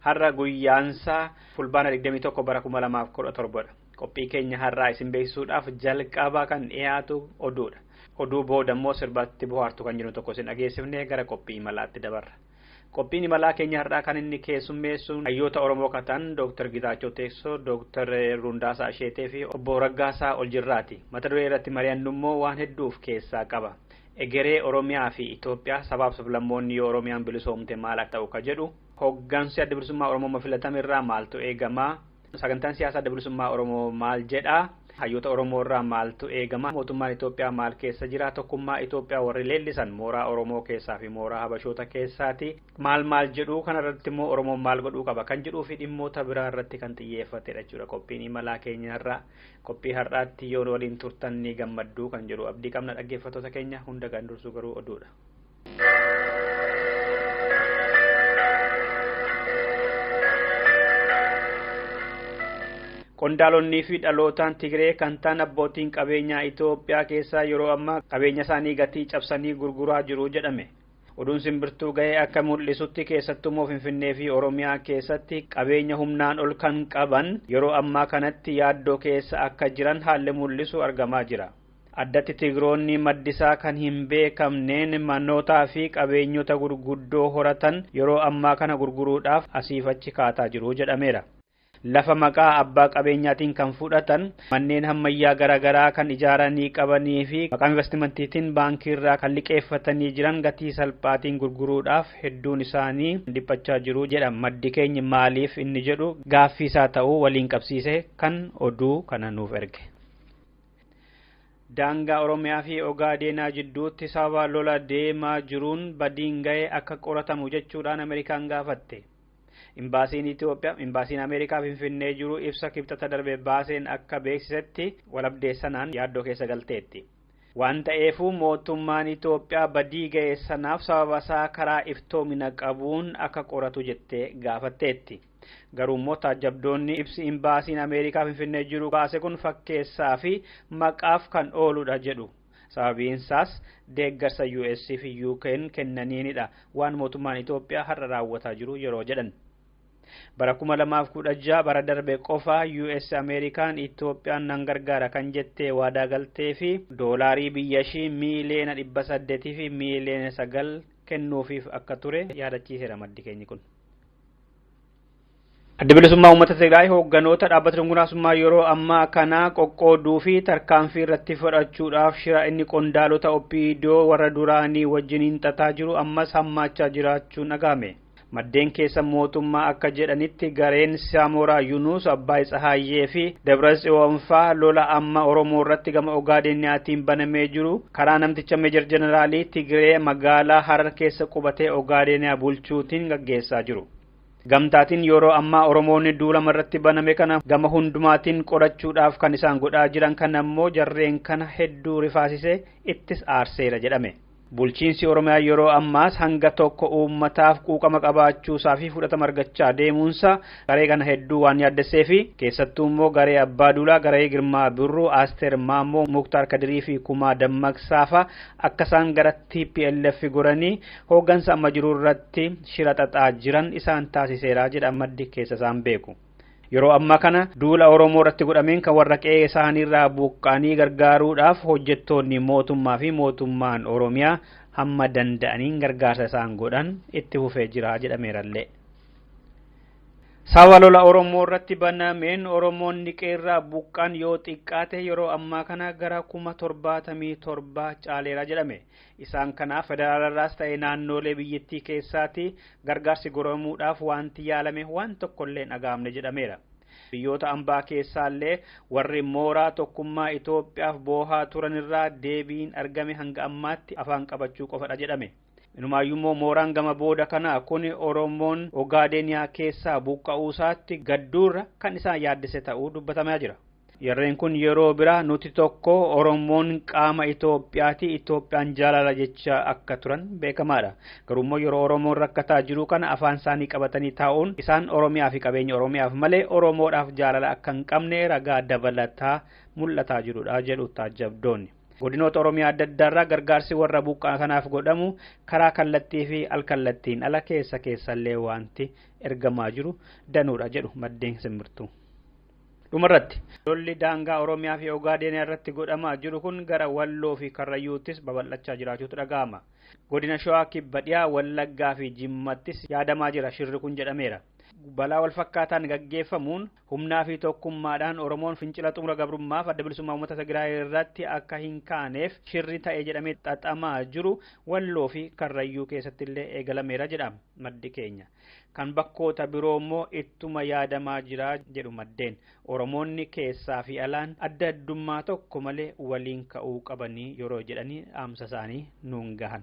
Har'a guyyaansaa fulbaana 21 bara 2017 dha. Qophii keenya har'aa isin beeksisuudhaaf jalqaba kan dhiyaatu oduudha. Oduu booda immoo sirbaatti bohaartu kan jiru tokko isin dhageessifnee gara qophii imalaatti dabarra. Qophiin imalaa keenya har'aa kan inni keessummeessu hayyoota Oromoo katan Dr. Gitaachoo Teessoo, Dr. Rundaasaa Asheetee fi obbo Raggaasaa Oljirraati. Mata duree irratti mari'annu immoo waan hedduu of keessaa qaba. Egeree Oromiyaa fi Itoophiyaa sabaaf sablammoonni yoo Oromiyaan bilisoomte maal akka ta'u ka jedhu Hoggansi Adda Bilisummaa Oromoo amma filatame irraa maaltu eegama? Sagantaan siyaasaa Adda Bilisummaa Oromoo maal jedha? Hayyoota Oromoo irraa maaltu eegama? Mootummaan Itoophiyaa maal keessa jira? Tokkummaa Itoophiyaa warri leellisan mooraa Oromoo keessaa fi mooraa Habashoota keessaati. Maal maal jedhu? Kana irratti immoo Oromoon maal godhuu qaba? Kan jedhuu fi dhimmoota biraa irratti kan xiyyeeffatedha jechuudha qophiin imalaa keenya har'aa. Qophii har'aatti yoo waliin turtan ni gammaddu kan jedhu abdii qabna dhaggeeffattoota keenya hunda kan dursu garuu oduudha. Qondaalonnii fi dhalootaan Tigree kan ta'an abbootiin qabeenyaa Itoophiyaa keessaa yeroo ammaa qabeenya isaanii gatii cabsanii gurguraa jiru jedhame. Oduun simbirtuu ga'ee akka mul'isutti keessattuu immoo Finfinnee fi Oromiyaa keessatti qabeenya humnaan ol kan qaban yeroo ammaa kanatti yaaddoo keessa akka jiran haalli mul'isu argamaa jira. Addatti Tigroonni maddisaa kan hin beekamneen manootaa fi qabeenyota gurguddoo horatan yeroo ammaa kana gurguruudhaaf asiif achi kaataa jiru jedhameera. Lafa maqaa abbaa qabeenyaatiin kan fudhatan, manneen hammayyaa gara garaa kan ijaaranii qabanii fi maqaa invastimantiitiin baankiirraa kan liqeeffatanii jiran gatii salphaatiin gurguruudhaaf hedduun isaanii dhiphachaa jiru jedha maddi keenya maaliif inni jedhu gaaffiisaa ta'uu waliin qabsiisee kan oduu kana nuuf erge. Daangaa Oromiyaa fi Ogaadeenaa jidduutti sababa lola deemaa jiruun badiin ga'e akka qoratamu jechuudhaan Ameerikaan gaafatte. Imbaasiin Itoophiyaa, Imbaasiin Ameerikaa Finfinnee jiru ibsa kibxata darbe baaseen akka beeksisetti walabdee sanaan yaaddoo keessa galteetti. Waan ta'eefuu mootummaan Itoophiyaa badii ga'e sanaaf sababasaa karaa iftoomina qabuun akka qoratu jettee gaafatteetti. Garuu immoo taajjabdoonni ibsi imbaasiin Ameerikaa Finfinnee jiru baase kun fakkeessaa fi maqaaf kan ooludha jedhu. Sababiin isaas deeggarsa US fi UK'n kennaniinidha waan mootummaan Itoophiyaa har'a raawwataa jiru yeroo jedhan. Bara 2016 bara darbe qofa US Ameerikaan Itoophiyaan nan gargaara kan jettee waadaa galtee fi doolaarii biyyashii miiliyoona 800 fi miiliyoona 9 kennuufiif akka ture yaadachiiseera maddi keenyi kun. Adda bilisummaa uummata Tigraay hoogganoota dhaabbata dunguraasummaa yeroo ammaa kana qoqqooduu fi tarkaanfii irratti fudhachuudhaaf shira inni qondaalota OPDO warra duraanii wajjiniin xaxaa jiru ammas hammaachaa jiraachuun dhaga'ame. Maddeen keessa mootummaa akka jedhanitti gareen Saamoraa Yunuus, Abbaay Tsahaayyee fi Dabra Tsiyoon faa lola amma Oromoo irratti gama Ogaadeeniyaatiin banamee jiru Karaa namticha Meejar Jeneraalii Tigiree magaalaa Harar keessa qubatee Ogaadeeniyaa bulchuutiin gaggeessaa jiru. Gamtaatiin yeroo ammaa Oromoonni duulama irratti baname kana gama hundumaatiin qorachuudhaaf kan isaan godhaa jiran kana immoo jarreen kana hedduu rifaasisee ittis aarseera jedhame. Bulchiinsi Oromiyaa yeroo ammaas hanga tokko uummataaf quuqama qabaachuusaa fi fudhatama argachaa deemuunsaa Garee kana hedduu waan yaaddesseefi keessattuu immoo garee Abbaa Duulaa, garee Girmaa Birruu, Asteer Maammoo, Muktaar Kadirii fi Kumaa Dammaqsaa fa'a akka isaan gara tplf goranii hooggansa amma jiru irratti shira xaxaa jiran isaan taasiseera jedha maddi keessa isaan beeku. Yeroo ammaa kana duula Oromoo irratti godhameen kan warra qe'ee isaaniirraa buqqaanii gargaaruudhaaf hojjettoonni mootummaa fi mootummaan Oromiyaa hamma danda'aniin gargaarsa isaan godhan itti fufee jira jedhameerallee. Sababa lola Oromoo irratti banameen Oromoonni qeerraa buqqaan yoo xiqqaate yeroo ammaa kana gara kuma torbaatamii torba caaleera jedhame. Isaan kana federaalarraas ta'e naannoolee biyyattii keessaatti gargaarsi goromuudhaaf wanti yaalame waan tokkollee hin dhaga'amne jedhameera. Biyyoota ambaa keessaallee warri mooraa tokkummaa Itoophiyaaf boohaa turanirraa deebiin argame hanga ammaatti afaan qabachuu qofadha jedhame. Inumaayyuummoo mooraan gama booda kanaa kun Oromoon Ogaadeeniyaa keessaa buqqa'uusaatti gadduurra kan isaan yaaddesse ta'uu dubbatamaa jira. Jarreen kun yeroo biraa nuti tokko Oromoon qaama Itoophiyaati, Itoophiyaan jaalala jechaa akka turan beekamaadha. Garuummoo yeroo Oromoon rakkataa jiru kana afaan isaanii qabatanii taa'uun isaan Oromiyaa fi qabeenya Oromiyaaf malee Oromoodhaaf jaalala akka hin qabne ragaa dabalataa mul'ataa jirudha jedhu taajjabdoonni. Godinoota Oromiyaa adda addaarraa gargaarsi warra buqqaa kanaaf godhamu karaa kallattii fi alkallattiin ala keessa keessallee wanti ergamaa jiru danuudha jedhu maddeen simbirtuu. Dhumarratti lolli daangaa Oromiyaa fi Ogaadeenaa irratti godhamaa jiru kun gara Walloo fi Karrayyuuttis babal'achaa jiraachuutu dhaga'ama. Godina Shawaa Kibba Dhiyaa, Wallaggaa fi Jimmattis yaadamaa jira shirri kun jedhameera. Balaa wal fakkaataan gaggeeffamuun Humnaa fi tokkummaadhaan Oromoon fincila xumura gabrummaaf adda bilisummaa uummata Tigraay irratti akka hin kaaneef shirri ta'e jedhamee xaxamaa jiru Walloo fi Karrayyuu keessatti illee eegalameera jedha maddi keenya. Kan bakkoota biroo immoo ittuma yaadamaa jira jedhu maddeen. Oromoonni keessaa fi alaan adda addummaa tokko malee waliin ka'uu qabanii yeroo jedhanii dhaamsa isaanii nuun gahan.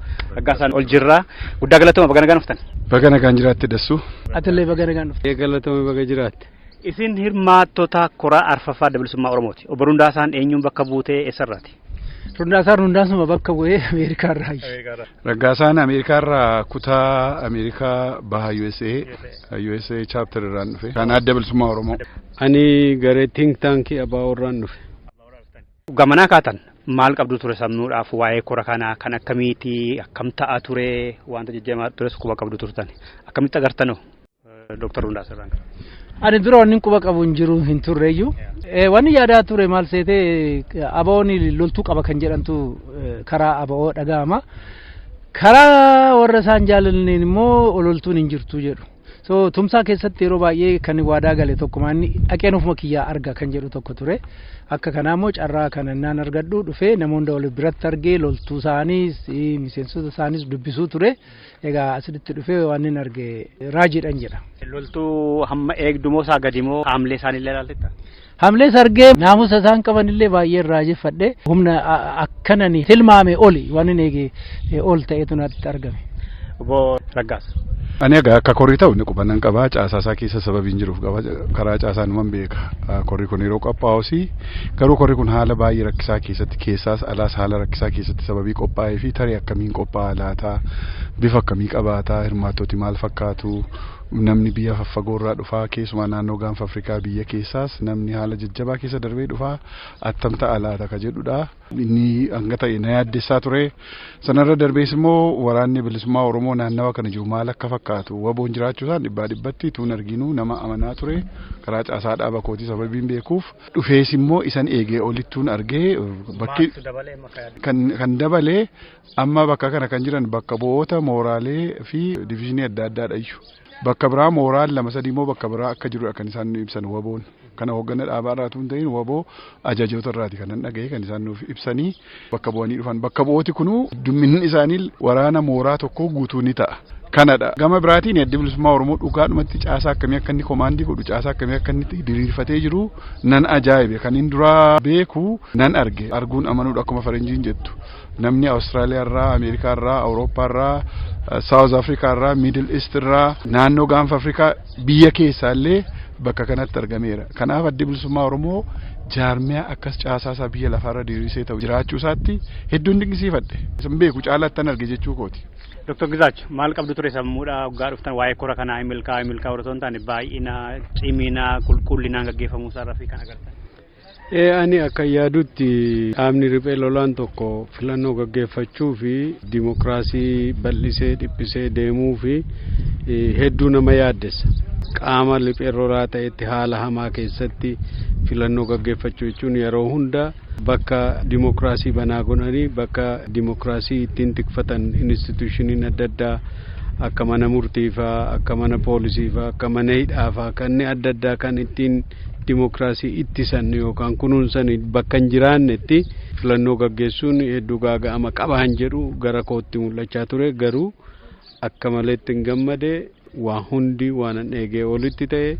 Raggaasaan ol jirra. Guddaa galatooma baga nagaan dhuftan. Baga nagaan jiraatte dassuu. Atillee baga nagaan dhufte. Galatoome baga jiraatte. Isin hirmaattota koraa arfaffaa adda bilisummaa Oromooti. Obbo Rundaasaan eenyuun bakka buutee eessarraati? Rundaasaan Rundaasuma bakka bu'ee Ameerikaa irraa hayyi. Raggaasaan Ameerikaa irraa kutaa Ameerikaa baha USA USA chapter irraan dhufe. Kan adda bilisummaa Oromoo. Ani garee think tank abbaa warraan dhufe. Gamanaa kaatan maal qabdu ture samnuudhaaf waa'ee kora kanaa kan akkamiiti akkam ta'a ture wanta jajjamaa tures quba qabdu turtan akkamitti agartanoo Dr. Hundaa Sirraan. Ani dura wanni quba qabu hin jiru hin turreeyyu. Wanni yaadaa ture maal seetee abawoon loltuu qaba kan jedhantu karaa abawoo dhaga'ama. Karaa warra isaan jaalalleen immoo loltuun hin jirtu jedhu. So tumsaa keessatti yeroo baay'ee kan waadaa gale tokkuma inni dhaqeen ofuma kiyyaa arga kan jedhu tokko ture. Akka kanaa immoo carraa kana naan argadhu dhufee namoonni wal biratti argee loltuu isaaniis miseensota isaaniis dubbisuu ture. Egaa asitti dhufee waan inni arge raajiidhaan jedha. Loltuu hamma eegdumoo isaa gadimoo haamlee isaanii illee ilaalteetta? Hamlee sargee naamusa isaan qaban illee baay'een raajeffadhe humna akkanan tilmaame oli waan hin eege ol ta'etu natti argame. Obbo Raggaas. Ani egaa akka korii ta'u inni qubannan qabaa caasaa isaa keessa sababiin jiruuf qaba karaa caasaa numan beeka korii kun yeroo qophaa'us garuu korii kun haala baay'ee rakkisaa keessatti keessaas alaas haala rakkisaa keessatti sababii qophaa'ee fi tarii akkamiin qophaa'a laataa bifa akkamii qabaataa hirmaattoti maal fakkaatu Namni biyya faffagoo irraa dhufaa keessumaa naannoo gaanfa Afrikaa biyya keessaas namni haala jajjabaa keessa darbee dhufaa attam ta'a laata ka jedhudha. Inni hanga ta'e na yaaddessaa ture. Sanarra darbees immoo waraanni bilisummaa Oromoo naannawa kana jiru maal akka fakkaatu waboon jiraachuu isaan dhibbaa dhibbatti tuun arginu nama amanaa ture. Karaa caasaa dhaaba kootii sababiin beekuuf dhufees immoo isan eegee olittuun argee bakki kan dabalee Amma bakka kana kan jiran bakka bu'oota mooraalee fi diviizhinii adda addaadha iyyu. Bakka biraa mooraan lama sadii immoo bakka biraa akka jirudha kan isaan nu ibsan waboon. Kana hoogganaa dhaabaa irraa tun ta'in waboo ajajoota irraati kan nan dhaga'e kan isaan nuuf ibsanii bakka bu'anii dhufan. Bakka bu'ooti kunuu dumminni isaanii waraana mooraa tokkoo guutuu ni ta'a. Kanadha. Gama biraatiin addi bilisummaa Oromoo dhugaadhumatti caasaa akkamii akka inni komaandii godhu caasaa akkamii akka inni diriirfatee jiru nan ajaa'ibe. Kan inni duraa beeku nan arge. Arguun amanuudha akkuma faranjiin jettu. namni Awustiraaliyaa irraa, Ameerikaa irraa, Awurooppaa irraa, Saawuz Afrikaa irraa, Miidil Iist irraa, naannoo gaanfa Afrikaa biyya keessaa illee bakka kanatti argameera. Kanaaf addi bilisummaa Oromoo jaarmiyaa akkas caasaa isaa biyya lafaarra diriirsee ta'u jiraachuu isaatti hedduun dinqisiifadhe. Isin beeku caalaattan arge jechuu kooti. Dr. Gizaach maal qabdu ture sammuudha hoggaa dhuftan waa'ee kora kanaa hin milkaa'u hin milkaa'u osoo hin taane baay'ina cimina qulqullinaan gaggeeffamuu isaarraa fi kan agartan. Ee ani akka yaadutti dhaabni riphee lolaan tokko filannoo gaggeeffachuu fi dimokiraasii bal'isee dhiphisee deemuu fi hedduu nama yaaddessa. Qaama riphee lolaa ta'etti haala hamaa keessatti filannoo gaggeeffachuu jechuun yeroo hunda bakka dimokiraasii banaa godhanii bakka dimokiraasii ittiin tikfatan instituushiniin adda addaa akka mana murtiifaa akka mana poolisiifaa akka mana hidhaafaa kanneen adda addaa kan ittiin dimookiraasii ittisan yookaan kunuunsan bakka hin jiraannetti filannoo gaggeessuun hedduu gaaga'ama qaba han jedhu gara kootti mul'achaa ture garuu akka maleetti hin gammade waa hundi waan an eegee olitti ta'e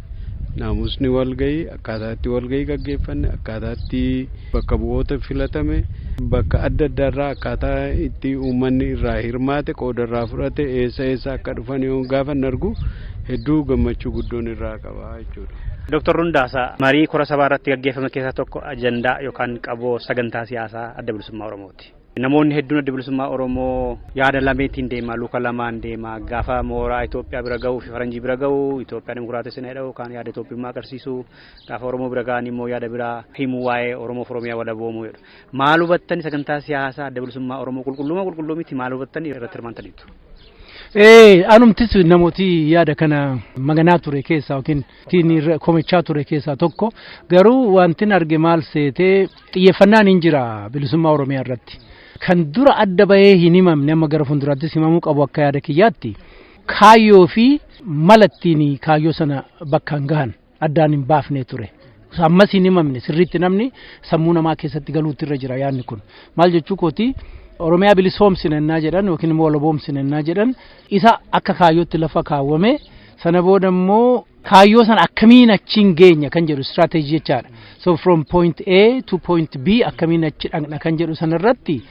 naamusni walgahii akkaataatti walgahii gaggeeffanne akkaataatti bakka bu'oota filatame bakka adda addaarraa akkaataa itti uummanni irraa hirmaate qoodarraa fudhate eessa eessa akka dhufan yoo gaafa hin argu hedduu gammachuu guddoon irraa qaba jechuudha. Dooktar Rundaasaa, marii kora sabaa irratti gaggeeffame keessaa tokko ajandaa yookaan qaboo sagantaa siyaasaa adda bilisummaa Oromooti. Namoonni hedduun adda bilisummaa Oromoo yaada lameetiin deema, luka lamaan deema. Gaafa mooraa Itoophiyaa bira gahuu fi faranjii bira gahu Itoophiyaa dimokiraatessina jedhamu kaan yaada Itoophiyummaa agarsiisu. Gaafa Oromoo bira gahan immoo yaada biraa himu waa'ee Oromoof Oromiyaa walaboomuu jedhu. Maal hubattani sagantaa siyaasaa adda bilisummaa Oromoo qulqulluuma qulqulluu miti maal hubattani irratti hirmaantaniitu? Ee anumtis namooti yaada kana maganaa ture keessaa yookiin ittiin irra komachaa ture keessaa tokko garuu wantin arge maal seetee xiyyeeffannaan hin jira bilisummaa Oromiyaa irratti. Kan dura adda bahee hin himamne amma gara fuulduraattis himamuu qabu akka yaada kiyyaatti kaayyoo fi mala ittiin kaayyoo sana bakkaan gahan. addaan hin baafne ture. Ammas hin himamne sirriitti namni sammuu namaa keessatti galuutti irra jira yaadni kun. Maal jechuu kooti Oromiyaa bilisoomsina ennaa jedhan yookiin immoo walaboomsina ennaa jedhan isa akka kaayyootti lafa kaawwame sana booda immoo kaayyoo sana akkamiin achiin geenya kan jedhu istiraateejii jechaadha. So from point A to point B akkamiin achi dhaqna kan jedhu sana irratti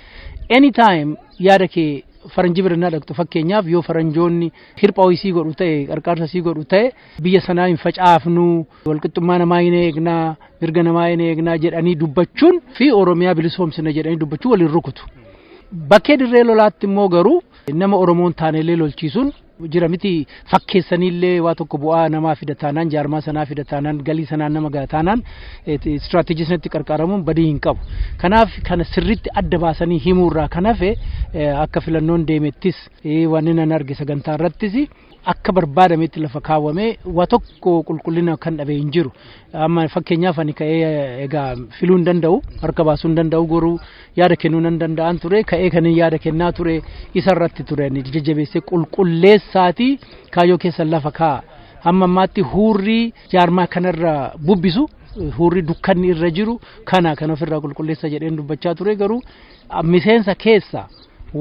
anytime yaada kee faranjii bira naa dhaqxu fakkeenyaaf yoo faranjoonni hirphaa sii godhu ta'e qarqaarsa sii godhu ta'e biyya sanaa hin facaafnu walqixxummaa namaa hin eegnaa mirga namaa hin eegnaa jedhanii dubbachuun fi oromiyaa bilisoomsina jedhanii dubbachuun waliin rukutu. Bakkee dirree lolaatti immoo garuu nama oromoon taaneellee lolchiisuun jira miti fakkeessaniillee waa tokko bu'aa namaa fida taanaan jaarmaa sanaa fida taanaan galii sanaan nama gaha taanaan istiraatejii sanatti qarqaramuun badii hin qabu. Kanaaf kana sirriitti adda baasanii himuurraa kan hafe akka filannoon deemettis wanni nan arge sagantaa irrattis akka barbaadametti lafa kaawwamee waa tokko qulqullina kan dhabe hin jiru. Amma fakkeenyaaf ani ka'ee egaa filuu hin danda'u harka baasuu hin danda'u goruu yaada kennuu nan danda'an ture ka'ee kan yaada kennaa ture isa irratti ture ani jajjabeessee qulqulleessaatii kaayyoo keessa lafa kaa'a. Amma ammaatti huurrii jaarmaa kanarra bubbisu huurri dukkanni irra jiru kana kan ofirraa qulqulleessa jedheen dubbachaa ture garuu miseensa keessa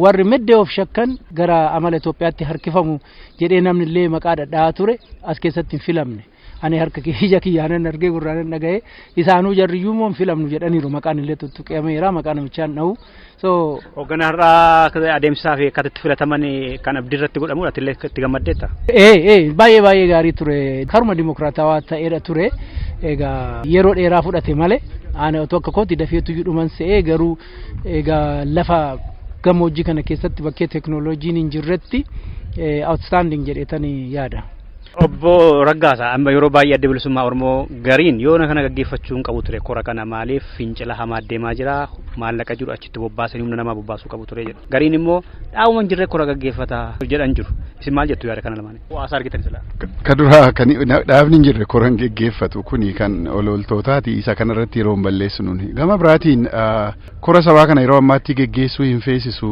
warri meddee of shakkan gara amala Itoophiyaatti harkifamu jedhee namni illee maqaa dhadhaa ture as keessatti hin filamne. Ani harka ija kiyyaanan argee gurraanan dhaga'ee isaanuu jarriyyuu immoo hin filamnu jedhaniiru maqaan illee tuttuqameera maqaa namichaan dha'u. So Hoogganaa har'aa adeemsisaa fi akkaataa itti filataman kan abdii irratti godhamu ati illee itti gammaddeetta. ee ee baay'ee baay'ee gaarii ture karuma dimokiraatawaa ta'eera ture egaa yeroo dheeraa fudhate malee ani otoo akka kooti dafeetu dhuman se'ee garuu Egaa lafa gammoojjii kana keessatti bakkee teknooloojiin hin jirretti outstanding jedheetanii yaada. Obbo Raggaasa amma yeroo baay'ee adda bilisummaa Oromoo gariin yoona kana gaggeeffachuu hin qabu ture kora kana maaliif fincila hamaa deemaa jira maallaqa jiru achitti bobbaasanii humna namaa bobbaasuu qabu ture jedhu gariin immoo dhaabuma hin jirre kora gaggeeffata jedhan jiru isin maal jettu yaada kana lamaan. As argitan silaa. Ka duraa kan dhaabni hin jirre koran geggeeffatu kuni kan ololtootaati isa kanarratti yeroo hin balleessu nuni. Gama biraatiin kora sabaa kana yeroo ammaatti geggeessuu hin feesisu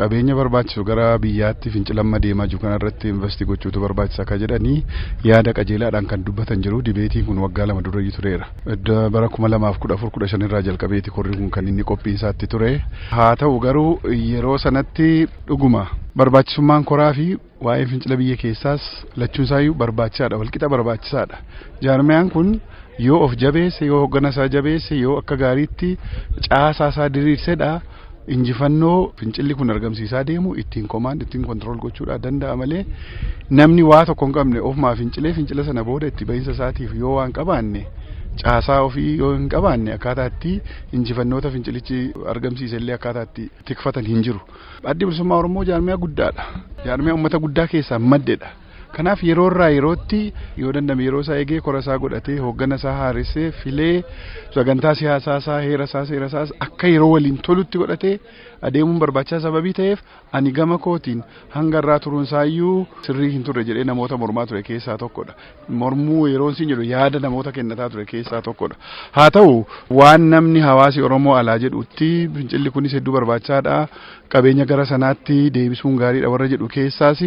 qabeenya barbaachisu gara biyyaatti fincilamma deemaa jiru kanarratti investi gochuutu barbaachisa akka jedhanii yaada qajeelaadhaan kan dubbatan jiru dibeetiin kun waggaa lama durayyuu tureera. Bara kuma lamaaf kudha afur kudha shan irraa jalqabeeti korri kun kan inni qophiinsaatti ture. Haa ta'u garuu yeroo sanatti dhuguma barbaachisummaan koraa fi Waa'ee fincila biyya keessaas lachuun isaayyuu barbaachisaadha walqixa barbaachisaadha. Jaarmayaan kun yoo of jabeesse yoo hoggana isaa jabeesse yoo akka gaariitti caasaa isaa diriirsedha injifannoo fincilli kun argamsiisaa deemu ittiin komaand ittiin kontirool gochuudhaa danda'a malee namni waa tokko hin qabne ofumaa fincilee fincila sana booda itti bahinsa isaatiif yoo waan qabaanne caasaa ofii yoo hin qabaanne akkaataa itti injifannoota fincilichi argamsiise illee akkaataa itti tikfatan hin jiru. Addi Bilisummaa Oromoo jaarmiyaa guddaadha. Jaarmiyaa uummata guddaa keessaa maddedha. Kanaaf yeroo irraa yerootti yoo dandame yeroo isaa eegee kora isaa godhatee hooggana isaa haaressee filee sagantaa siyaasaa isaa heera isaa seera isaas akka yeroo waliin tolutti godhatee adeemuun barbaachisaa sababii ta'eef ani gama kootiin hanga irraa turuun isaa iyyuu sirrii hin turre jedhee namoota mormaa ture keessaa tokkodha. mormuu yeroon siin jedhu yaada namoota kennataa ture keessaa tokkodha. Haa ta'u waan namni hawaasi Oromoo alaa jedhutti fincilli kunis hedduu barbaachisaadha. Qabeenya gara sanaatti deebisuun gaariidha warra jedhu keessaas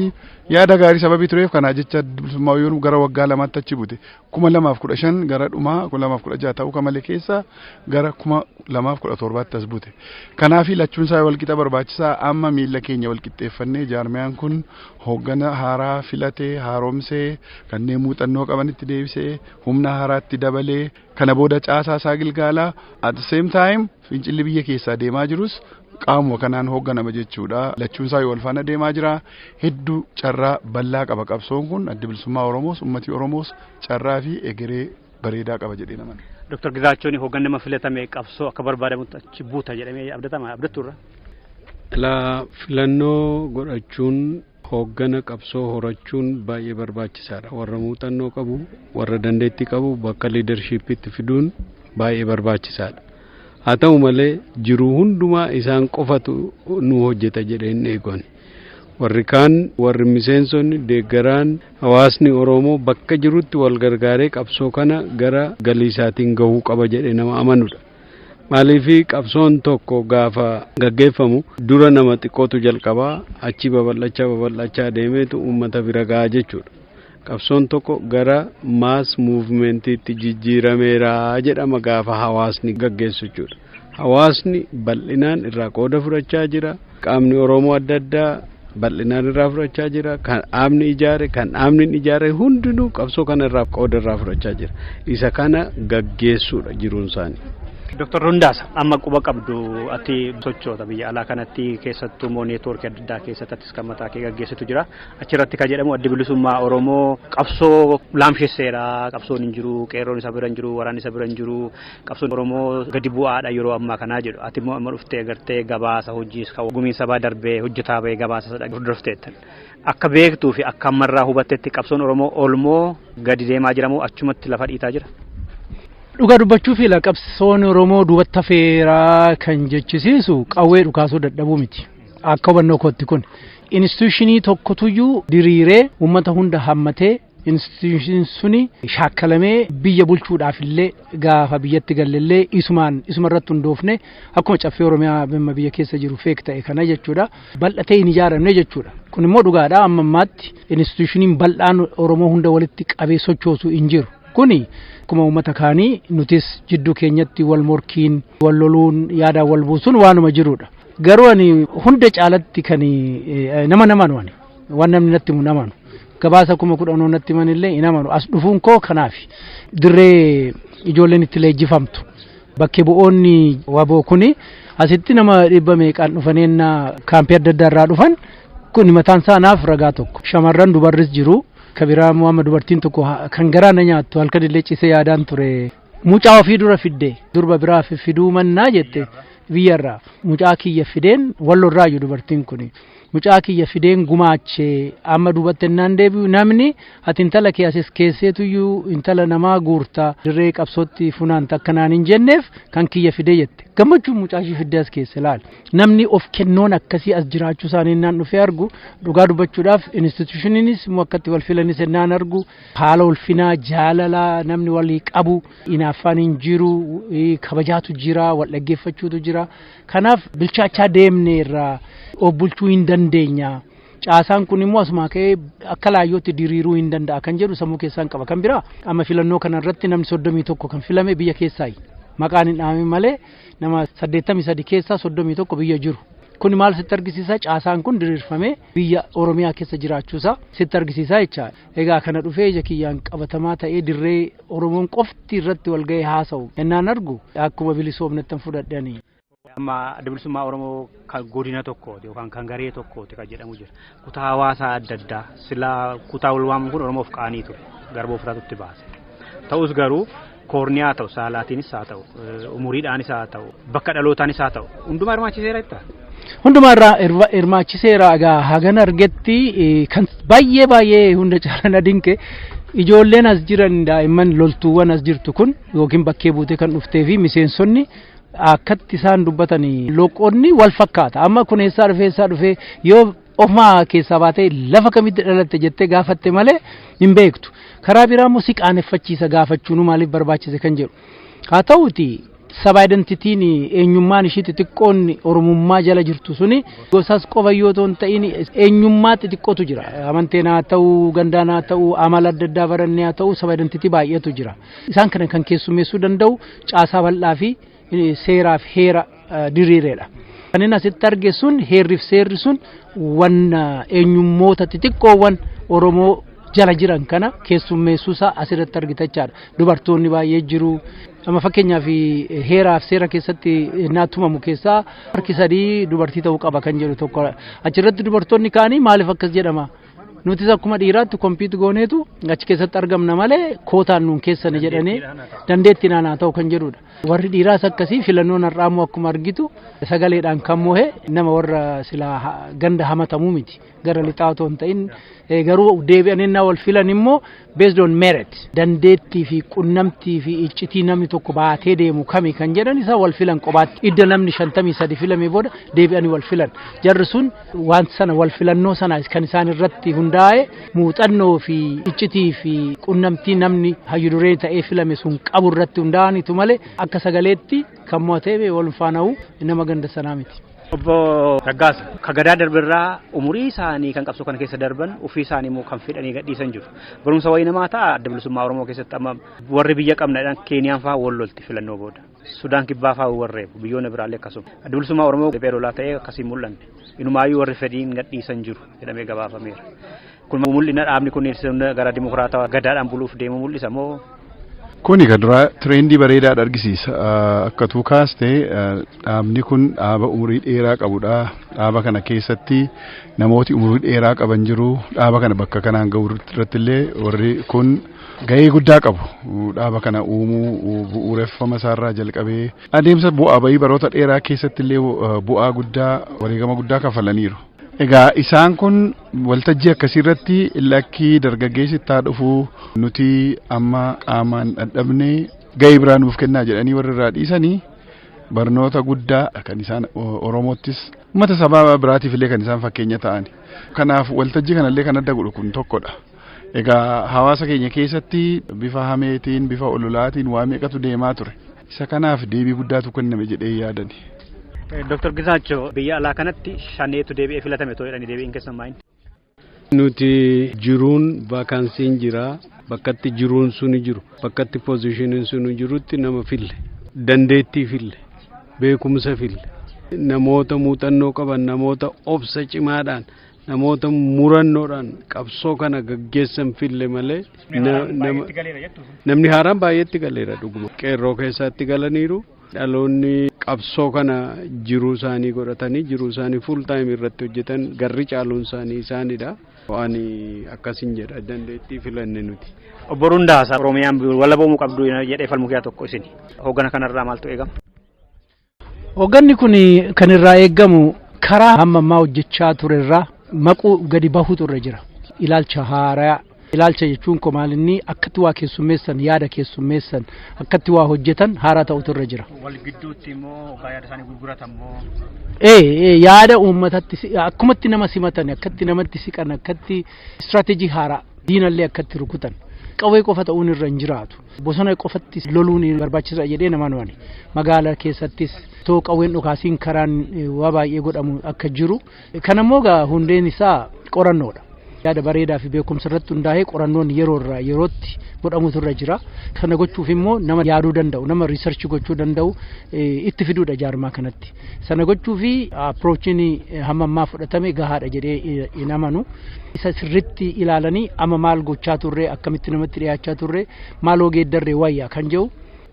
yaada gaarii sababii tureef kanaa jecha bilisummaa yoo gara waggaa lamaatti achi bute kuma lamaaf kudha shan gara dhumaa kuma lamaaf kudha jaha ta'uu kamalee keessa gara kuma lamaaf kudha torbaatti as bute. Kanaaf lachuun isaa walqixa barbaachisaa amma miila keenya walqixxeeffannee jaarmiyaan kun Hooggana haaraa filatee, haaromsee, kanneen muuxannoo qabanitti deebisee, humna haaraatti dabalee, kana booda caasaa isaa gilgaala. At the same time fincilli biyya keessaa deemaa jirus qaamuma kanaan hoogganama jechuudha. Lachuun isaa yoo wal faana deemaa jira. Hedduu carraa bal'aa qaba qabsoon kun adda bilisummaa Oromoos, ummati Oromoos carraa fi egeree bareedaa qaba jedhee naman. Dr. Gizaachoon hoggan nama filatame qabsoo akka barbaadamutti achi buuta jedhamee abdatama abdattu irra. Ilaa filannoo godhachuun hooggana qabsoo horachuun baay'ee barbaachisaadha. Warra muuxannoo qabu, warra dandeettii qabu bakka liidarshiippiitti fiduun baay'ee barbaachisaadha. Haa ta'u malee jiru hundumaa isaan qofatu nu hojjeta jedhee hin eegan. warri kaan warri miseensonni deeggaraan hawaasni Oromoo bakka jirutti wal gargaaree qabsoo kana gara galii isaatiin gahuu qaba jedhee nama amanudha. Maaliif qabsoon tokko gaafa gaggeeffamu dura nama xiqqootu jalqabaa achii babal'achaa babal'achaa deemeetu uummata bira gahaa jechuudha. Qabsoon tokko gara maas muuvmentiitti jijjiirameera jedhama gaafa hawaasni gaggeessu jechuudha. Hawaasni bal'inaan irraa qooda fudhachaa jira. Qaamni Oromoo adda addaa bal'inaan irraa fudhachaa jira. Kan dhaabni ijaare, kan dhaabni hin ijaare hundinuu qabsoo kana irraa qooda irraa fudhachaa jira. Isa kana gaggeessuudha jiruun isaanii. Dooktar Hundaas amma quba qabdu ati sochoota biyya alaa kanatti keessattuu immoo neetwoorkii adda addaa keessatti atis kan mataa kee gaggeessitu jira. Achirratti kan jedhamu addi bilisummaa Oromoo qabsoo laamshesseera. Qabsoon hin jiru, qeerroon isa bira hin jiru, waraanni isa bira hin jiru. Qabsoon Oromoo gadi bu'aadha yeroo ammaa kanaa jedhu. Ati immoo amma dhuftee agartee gabaasa hojiis kan gumiin sabaa darbee hojjetaa bahee gabaasa isa dhaggeeffatu hordofteettan. Akka beektuu fi akka ammarraa hubattetti qabsoon Oromoo olmoo gadi deemaa jira moo achumatti lafa dhiitaa jira? Dhugaa dubbachuu fi qabsoon Oromoo duubatti hafeera kan jechisiisu qawwee dhukaasuu dadhabuu miti. Akka hubannoo kootti kun instituushinii tokkotuyyuu diriiree uummata hunda hammatee instituushin suni shaakkalamee biyya bulchuudhaaf illee gaafa biyyatti gallellee isumaan isuma irratti hundoofne akkuma caffee oromiyaa bimma biyya keessa jiru feek ta'e kana jechuudha bal'atee hin ijaaramne jechuudha kun immoo dhugaadha amma ammaatti instituushiniin bal'aan oromoo hunda walitti qabee sochoosu hin jiru kuni akkuma uummata kaanii nutis jidduu keenyatti wal morkiin wal loluun yaadaan wal buusuun waanuma jirudha Garuu ani hunda caalatti kan nama namanu ani waan namni natti himu namanu gabaasa kuma kudhanoo natti himan illee hin amanu as dhufuun koo kanaaf dirree ijoolleen itti leenjifamtu bakkee bu'oonni waboo kuni asitti nama dhibba meeqaan dhufaneenna kaampii adda addaa irraa dhufan kun mataan isaa naaf ragaa tokko shamarran dubarris jiru kabiraa amma dubartiin tokko kan garaa na nyaattu halkan illee cisee yaadaan ture Mucaa ofii dura fidde durba biraa fi- fiduu mannaa jette biyyarraa mucaa kiyya fideen wallo irraa iyyuu dubartiin kun mucaa kiyya fideen gumaache amma duubatti ennaan deebi'u namni ati intala kee asis keesseetu iyyuu intala namaa guurta dirree qabsootti funaanta akka naan hin jenneef kan kiyya fidee jette gammachuun mucaa ishii fiddee as keessa ilaali namni of kennoon akkasii as jiraachuu isaanii ennaan dhufee argu dhugaa dubbachuudhaaf institushiniinis immoo akkatti wal filanis ennaan argu Haala ulfinaa jaalala namni walii qabu inaaffaan hin jiru kabajaatu jira wal dhaggeeffachuutu jira kanaaf bilchaachaa deemne irraa of bulchuu hin dandeenya caasaan kun immoo asumaa ka'ee akka laayyootti diriiruu hin danda'a kan jedhu sammuu keessaan qaba kan biraa amma filannoo kana irratti namni soddomii tokko kan filame biyya keessaayi maqaan hin dhahamin malee nama saddeettamii sadi keessaa soddomii tokko biyya jiru kun maal sitti argisiisa caasaan kun diriirfamee biyya oromiyaa keessa jiraachuusaa sitti argisiisa jechaadha. Egaa kana dhufee ija kiyyaan qabatamaa ta'ee dirree Oromoon qofti irratti wal ga'ee haasa'u ennaan argu akkuma bilisoomnettan fudhadhani. Amma adda bilisummaa Oromoo kan godina tokkooti yookaan kan garee tokkooti kan jedhamu jira. Kutaa hawaasaa adda addaa silaa kutaa wal waamu kun Oromoof qaanii ture. Garbooftaatu itti baase. Ta'us garuu koorniyaa haa ta'u, saalaatiinis haa ta'u, umuriidhaanis haa ta'u, bakka dhalootaanis haa ta'u, hundumaa hirmaachiseera jettaa? Hundumaa irraa hirma- hirmaachiseera egaa hagan argetti eh, kan baay'ee baay'ee hunda caalaa na dinqe ijoolleen as jiran daa'imman loltuuwwan as jirtu kun yookiin bakkee buutee kan dhuftee fi miseensonni akkatti isaan dubbatanii loqonni wal fakkaata amma kun eessaa dhufee eessaa dhufee yoo Ofuma keessaa baatee lafa kamitti dhalatte jettee gaafatte malee hin beektu. Karaa biraa immoo si qaaneffachiisa gaafachuun maaliif barbaachise kan jedhu. Haa ta'uti saba identitiin eenyummaan ishii xixiqqoon oromummaa jala jirtu suni gosas qofa yoo ta'u hin ta'in eenyummaa xixiqqootu jira. Amanteen haa ta'u, gandaan haa ta'u, amala adda addaa barannee haa ta'u saba identitii baay'eetu jira. Isaan kana kan keessummeessuu danda'u caasaa bal'aa fi seeraaf heera diriireedha. Kan inni asitti arge sun heerriif seerri sun wan eenyummoota xixiqqoowwan Oromoo jala jiran kana keessummeessuusaa asirratti argita jechaadha. Dubartoonni baay'ee jiru. Amma fakkeenyaaf heeraaf seera keessatti naa tumamu keessaa harki sadii dubartii ta'uu qaba kan jedhu tokko achirratti dubartoonni kaanii maaliif akkas jedhama? Nutis akkuma dhiiraatti kompiit gooneetu achi keessatti argamna malee kootaan nuun keessani jedhanii dandeettiin aanaa ta'u kan jedhudha. Warri dhiiraas akkasii filannoon har'aammoo akkuma argitu sagaleedhaan kan mohe nama warra silaa ha- ganda hamatamuu miti gara lixaa otoo hin ta'in eh, garuu deebi'anii na wal filan immoo based on merit dandeettii fi qunnamtii fi iccitii namni tokko baatee deemu kami kan jedhan isaa wal filan qobaatti idda namni shantamii sadi filamee booda deebi'anii wal filan jarri sun Wanti sana wal filannoo sana kan isaan irratti hundaa'e muuxannoo fi iccitii fi qunnamtii namni hayyu duree ta'ee filame sun qabu irratti hundaa'anitu malee akka sagaleetti kan mo'atee wal faana'u nama ganda sanaa miti. Obbo Raggaasa ka gadaa darbirraa umurii isaanii kan qabsoo kana keessa darban ofii isaanii immoo kan fedhanii gadhiisan jiru. Barumsa wayii namaa ta'a adda bilisummaa Oromoo keessatti amma warri biyya qabna jedhan Keeniyaan fa'aa wal lolti filannoo booda. Sudaan Kibbaa fa'aa warri reebu biyyoonni biraallee akkasuma. Adda Bilisummaa Oromoo riphee lolaa ta'ee akkasii mul'anne. Inumaayyuu warri fedhiin gadhiisan jiru jedhamee gabaafameera. Kun mul'ina dhaabni kun gara dimokiraatawaa gadaadhaan buluuf deemu mul'isa moo? Kuni kan duraa tireendii bareedaadha argisiisa. Akka tuu kaaste dhaabni kun dhaaba umurii dheeraa qabudha. Dhaaba kana keessatti namooti umurii dheeraa qaban jiru. Dhaaba kana bakka kanaan gahu irratti illee warri kun gahee guddaa qabu. Dhaaba kana uumuu bu'uureffama isaarraa jalqabee adeemsa bu'aa bahii baroota dheeraa keessatti illee bu'aa guddaa wareegama guddaa kafalaniiru. Egaa isaan kun waltajjii akkasii irratti lakkii dargaggeessi itti haa dhufu nuti amma qaamaan dhadhabne gahee biraa nuuf kennaa jedhanii warri irraa dhiisanii barnoota guddaa kan isaan Oromoottis uummata sabaa biraatiif illee kan isaan fakkeenya ta'ani. Kanaaf waltajjii kanallee kan adda godhu kun tokkodha. Egaa hawaasa keenya keessatti bifa hameetiin, bifa ololaatiin waa meeqatu deemaa ture. Isa kanaaf deebii guddaatu kenname jedhee yaadani. Dr. Gizaachoo biyya alaa kanatti shaneetu deebi'ee filatame too jedhanii deebiin keessan maayini? Nuti jiruun vaakansiin jira bakkatti jiruun suni jiru bakkatti poozishiniin suni jirutti nama fille dandeettii fille beekumsa fille namoota muuxannoo qaban namoota obsa cimaadhaan namoota murannoodhaan qabsoo kana gaggeessan fille malee namni haaraan baay'eetti galeera dhuguma qeerroo keessaatti galaniiru dhaloonni qabsoo kana jiruu isaanii godhatanii jiruu isaanii fuul taayim irratti hojjetan garri caaluun isaanii isaanidha. Waan akkasiin jedha dandeettii filanne nuti. Obbo Rundaa Oromiyaan walabamuu qabdu jedhee falmu keessaa tokko isin. Hoggana kanarraa maaltu eegama? Hogganni kun kan irraa eegamu karaa hamma ammaa hojjechaa ture irraa maquu gadi bahuutu irra jira. Ilaalcha haaraa ilaalcha jechuun koo maal inni akkatti waa keessummeessan yaada keessummeessan akkatti waa hojjetan haaraa ta'utu irra jira. Wal gidduutti immoo hoggaa yaada isaanii gurguratan immoo. Ee ee, yaada uummatatti si- akkumatti nama simatan akkatti namatti siqan akkatti istiraatejii haaraa diinallee akkatti rukutan qawwee qofa ta'uun irra hin jiraatu. Bosona qofatti loluun barbaachisa jedhee namaan waani. Magaala keessattis too qawween dhukaasiin karaan waa baay'ee godhamu akka jiru. Kan ammoo gaa hundeen isaa qorannoodha. Yaada bareedaa fi beekumsa irratti hundaa'ee qorannoon yeroo irraa yerootti godhamutu irra jira. Kana gochuuf immoo nama yaaduu danda'u, nama riisarchi gochuu danda'u itti fiduudha jaarmaa kanatti. Sana gochuu fi approachiin hamma ammaa fudhatame gahaadha jedhee hin amanu. Isa sirriitti ilaalanii amma maal gochaa turre akkamitti namatti dhiyaachaa turre maaloo geeddarre wayya kan jedhu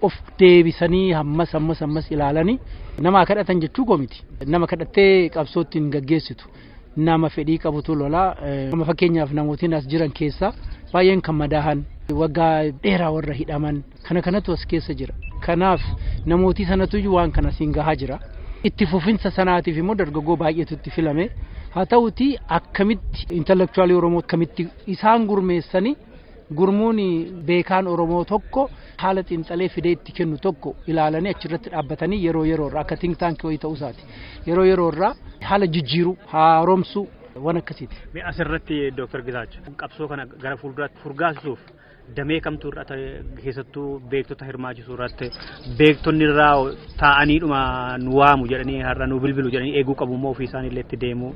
of deebisanii hammas hammas hammas ilaalanii nama kadhatan jechuu koo miti. Nama kadhattee qabsootti hin gaggeessitu. nama fedhii qabutu lola. Amma fakkeenyaaf namootiin as jiran keessaa baay'een kan madaahan waggaa dheeraa warra hidhaman kana kanatu as keessa jira. Kanaaf namootii sanatu waan kana siin gahaa jira. Itti fufinsa sanaatiif immoo dargaggoo baay'eetu itti filame. Haa ta'uti akkamitti intellectualii Oromoo akkamitti isaan gurmeessanii Gurmuun beekaan Oromoo tokko haala xiinxalee fidee itti kennu tokko ilaalanii achirratti dhaabbatanii yeroo yeroo irraa akka think tank wayii ta'uu isaati. Yeroo yeroo irraa haala jijjiiruu, haaromsuu waan akkasiiti. Mee asirratti Dooktar Gitaacha qabsoo kana gara fuulduraatti furgaasisuuf damee kamtu irratti keessattuu beektota hirmaachisuu irratti beektonni irraa taa'aniidhuma nu waamu jedhanii har'a nu bilbilu jedhanii eeguu qabu immoo ofii isaanii illee itti deemu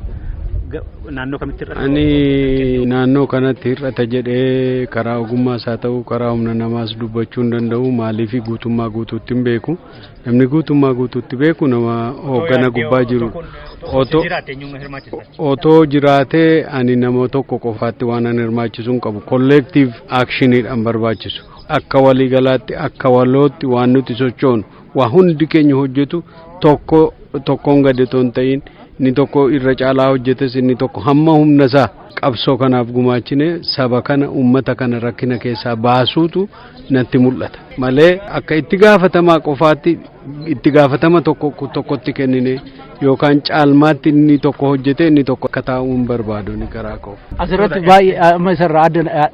Ga- naannoo kamitti irratti Ani naannoo kanatti hir'ata jedhee karaa ogummaas haa ta'u karaa humna namaas dubbachuu hin danda'u maaliif guutummaa guutuutti hin beeku namni guutummaa guutuutti beeku nama hooggana gubbaa jiru otoo otoo jiraatee ani nama tokko qofaatti waan an hirmaachisu hin qabu kolleektiiv aakshiniidhaan barbaachisu Akka waliigalaatti akka walootti waan nuti sochoonu waa hundi keenya hojjetu tokko tokkoon gadi otoo hin ta'in inni tokko irra caalaa hojjetes inni tokko hamma humna isaa qabsoo kanaaf gumaachine saba kana uummata kana rakkina keessaa baasuutu natti mul'ata malee akka itti gaafatamaa qofaatti itti gaafatama tokko tokkotti kennine yookaan caalmaatti inni tokko hojjetee inni tokko akka taa'uun barbaadu ni garaa koo. Asirratti baay'ee amma isarraa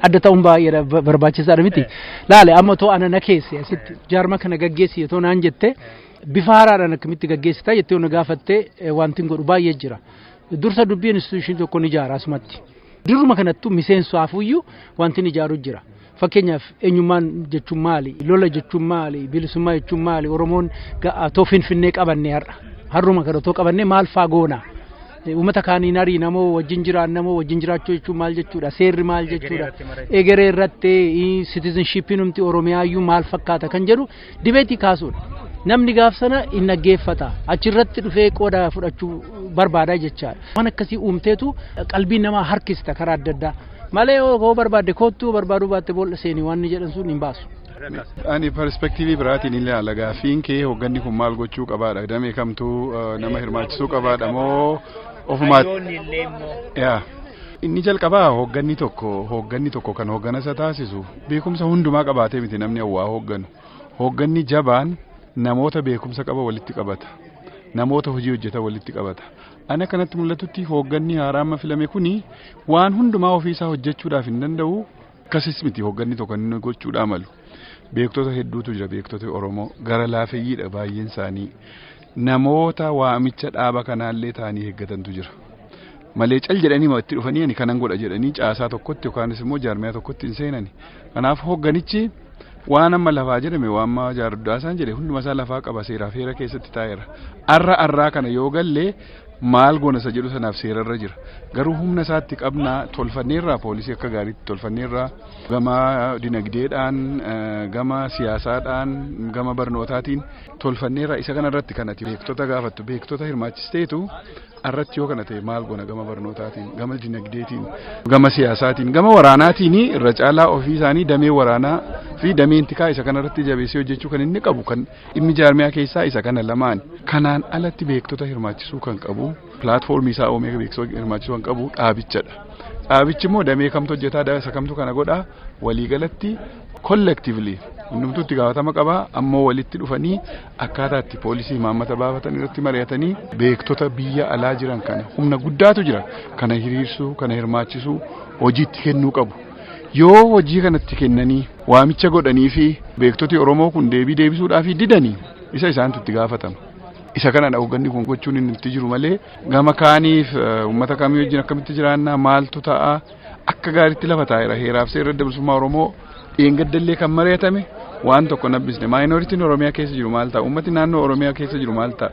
adda ta'uun baay'ee barbaachisaadha miti. Laale amma too ana na keessi asitti jaarma kana gaggeessi yoo naan jette bifa haaraadhaan akkamitti gaggeessita jettee yoo na gaafattee wanti godhu baay'ee jira. Dursa dubbii instituushinii tokko ni ijaara asumatti. Dirruma kanattuu miseensu hafuyyuu wanti ni ijaaru jira. Fakkeenyaaf eenyummaan jechuun maali? Lola jechuun maali? Bilisummaa jechuun maali? Oromoon ga'aatoo finfinnee qabanne har'a. Har'uma kana otoo qabanne maal faa goona? Uummata kaaniin ariina moo wajjin jiraanna moo wajjin jiraachuu jechuun maal jechuudha? Seerri maal jechuudha? Egeree irratti sitizinshippiin humti Oromiyaayyuu maal fakkaata kan jedhu Dibeetii kaasuudha. Namni gaaf sana hin dhaggeeffata. Achirratti dhufee qooda fudhachuu barbaada jechaadha. Waan akkasii uumteetu qalbii namaa harkista karaa adda addaa. Malee yoo barbaadde koottuu barbaaduu baatte boolla seenii waan inni jedhan sun hin baasu. Ani perspektiivii biraatiin ilaala gaaffiin kee hoogganni kun maal gochuu qabaadha damee kamtu nama hirmaachisuu qabaadha moo ofumaatti. Inni jalqabaa hoogganni tokko hoogganni tokko kan hoogganasa taasisu Beekumsa hundumaa qabaatee miti namni hawwaa hoogganu. Hoogganni jabaan namoota beekumsa qaba walitti qabata. Namoota hojii hojjetan walitti qabata. Ani akkanatti mul'atutti hoogganni haaraa amma filame kuni waan hundumaa ofiisaa hojjechuudhaaf hin danda'u. Akkasis miti hoogganni tokko inni gochuudhaa malu. Beektota hedduutu jira beektota Oromoo gara laafeyyiidha baay'een isaanii. Namoota waamicha dhaaba kanaallee ta'anii eeggatantu jira. Malee cal jedhanii itti dhufanii ani kanan godha jedhanii caasaa tokkotti yookaanis immoo jaarmiyaa tokkotti hin seenani. Kanaaf hoogganichi waan amma lafaa jedhame waan amma jaardaasaan jedhe hunduma isaa lafaa qaba seeraa fi heera keessatti taa'eera. Arra arraa kana yoo galle maal goona isa jedhu sanaaf seerarra jira. Garuu humna isaatti qabna tolfanneerraa poolisii akka gaariitti tolfanneerraa gama dinagdeedhaan gama siyaasaadhaan gama barnootaatiin tolfanneerra isa kana irratti kan ati beektota gaafattu beektota hirmaachisteetu irratti yoo kana ta'e maal goona gama barnootaatiin gama dinagdeetiin gama siyaasaatiin gama waraanaatiin irra caalaa ofii isaanii damee waraanaa fi dameen tikaa isa kana irratti jabeessee hojjechuu kan inni qabu kan dhimmi jaarmiyaa keessaa isa kana lamaan kanaan alatti beektota hirmaachisuu kan qabu pilaatfoormii isaa uumee beektota hirmaachisuu kan qabu dhaabichadha. Dhaabichi immoo damee kamtu hojjetaa isa kamtu kana godhaa waliigalatti collectively hundumtuu itti gaafatama qaba ammoo walitti dhufanii akkaataa itti poolisii imaammata baafatan irratti mari'atanii beektota biyya alaa jiran kana humna guddaatu jira kana hiriirsuu kana hirmaachisuu hojiitti kennuu qabu yoo hojii kanatti kennanii waamicha godhanii fi beektoti oromoo kun deebii deebisuudhaaf didanii isa isaantu itti gaafatama. isa kanadha hoogganni kun gochuun inni itti jiru malee gama kaaniif uummata kamii wajjin akkamitti jiraannaa maaltu ta'a akka gaariitti lafa taa'eera heeraaf seerri adda bilisummaa Oromoo dheengaddallee kan mari'atame waan tokko nabbisne maayinooritiin Oromiyaa keessa jiru maal ta'a ummati naannoo Oromiyaa keessa jiru maal ta'a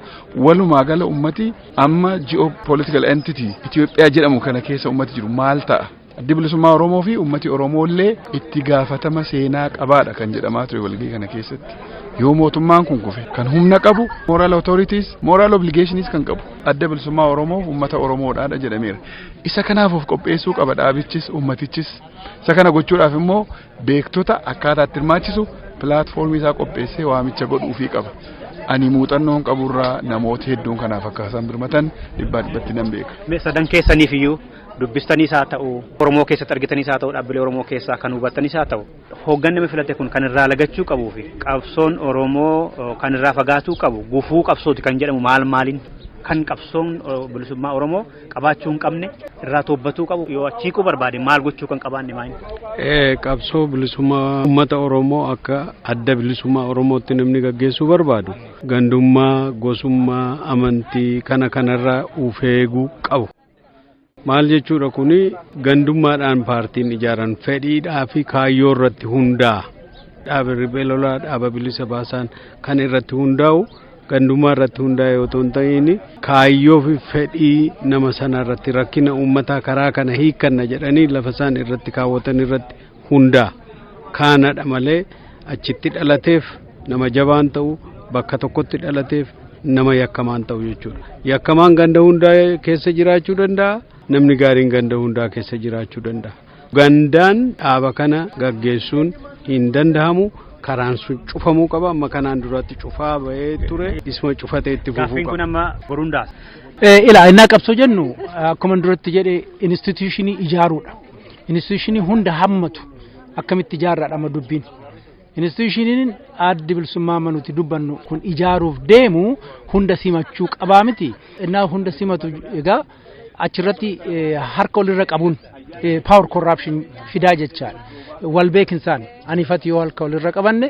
walumaa gala ummati amma ji'oo political entity Itoophiyaa jedhamu kana keessa ummati jiru maal ta'a addi bilisummaa Oromoo fi ummati Oromoo illee itti gaafatama seenaa qabaadha kan jedhamaa ture walgii kana keessatti yoo mootummaan kun kufe kan humna qabu moral authorities moral obligations kan qabu adda bilisummaa Oromoof ummata Oromoodhaadha jedhameera. Isa kanaaf of qopheessuu qaba dhaabichis uummatichis. Isa kana gochuudhaaf immoo beektota akkaataa itti hirmaachisu pilaatfoormii isaa qopheessee waamicha godhuufii qaba. Ani muuxannoon qaburraa namoota hedduun kanaaf akka isaan birmatan dhibbaa dhibbatti nan beeka. Sadan keessaniif iyyuu dubbistaniis haa ta'u, Oromoo keessatti argitaniis haa ta'u, dhaabbilee Oromoo keessaa kan hubattaniis haa ta'u, hooggan nama filate kun kan irraa lagachuu qabuu fi qabsoon Oromoo kan irraa fagaatuu qabu gufuu qabsooti kan jedhamu maal maaliin kan qabsoon bilisummaa Oromoo qabaachuu hin qabne irraa toobbatuu qabu yoo achi hiikuu barbaade maal gochuu kan qabaanne maal Eh, qabsoo bilisummaa uummata Oromoo akka adda bilisummaa Oromootti namni gaggeessuu barbaadu gandummaa, gosummaa, amantii kana kanarraa of eeguu qabu. Maal jechuudha kuni gandummaadhaan paartiin ijaaran fedhiidhaa fi kaayyoo irratti hundaa'a. Dhaaba riphee lolaa dhaaba bilisa baasaan kan irratti hundaa'u gandummaa irratti hundaa'e otoo hin ta'iin kaayyoo fi fedhii nama sana irratti rakkina uummataa karaa kana hiikkanna jedhanii lafa isaan irratti kaawwatan irratti hundaa kaanadha malee achitti dhalateef nama jabaan ta'u bakka tokkotti dhalateef nama yakkamaan ta'u jechuudha. Yakkamaan ganda hundaa keessa jiraachuu danda'a namni gaariin ganda hundaa keessa jiraachuu danda'a. Gandaan dhaaba kana gaggeessuun hin dandahamu. karaan sun cufamuu qaba amma kanaan duratti cufaa bahee ture isuma cufatee itti fufuu Gaaffiin kun qaba. amma boruun daasa. Ilaa innaa qabsoo jennu akkuma duratti jedhe instituushinii ijaaruudha. Instituushinii hunda hammatu akkamitti ijaarraadha amma dubbiin. Instituushiniin addi bilisummaa manuti dubbannu kun ijaaruuf deemu hunda simachuu qabaa miti. Innaa hunda simatu egaa achirratti harka olirra qabuun power corruption fidaa jechaadha. Wal beekinsaan anifati yoo harka olirra qabanne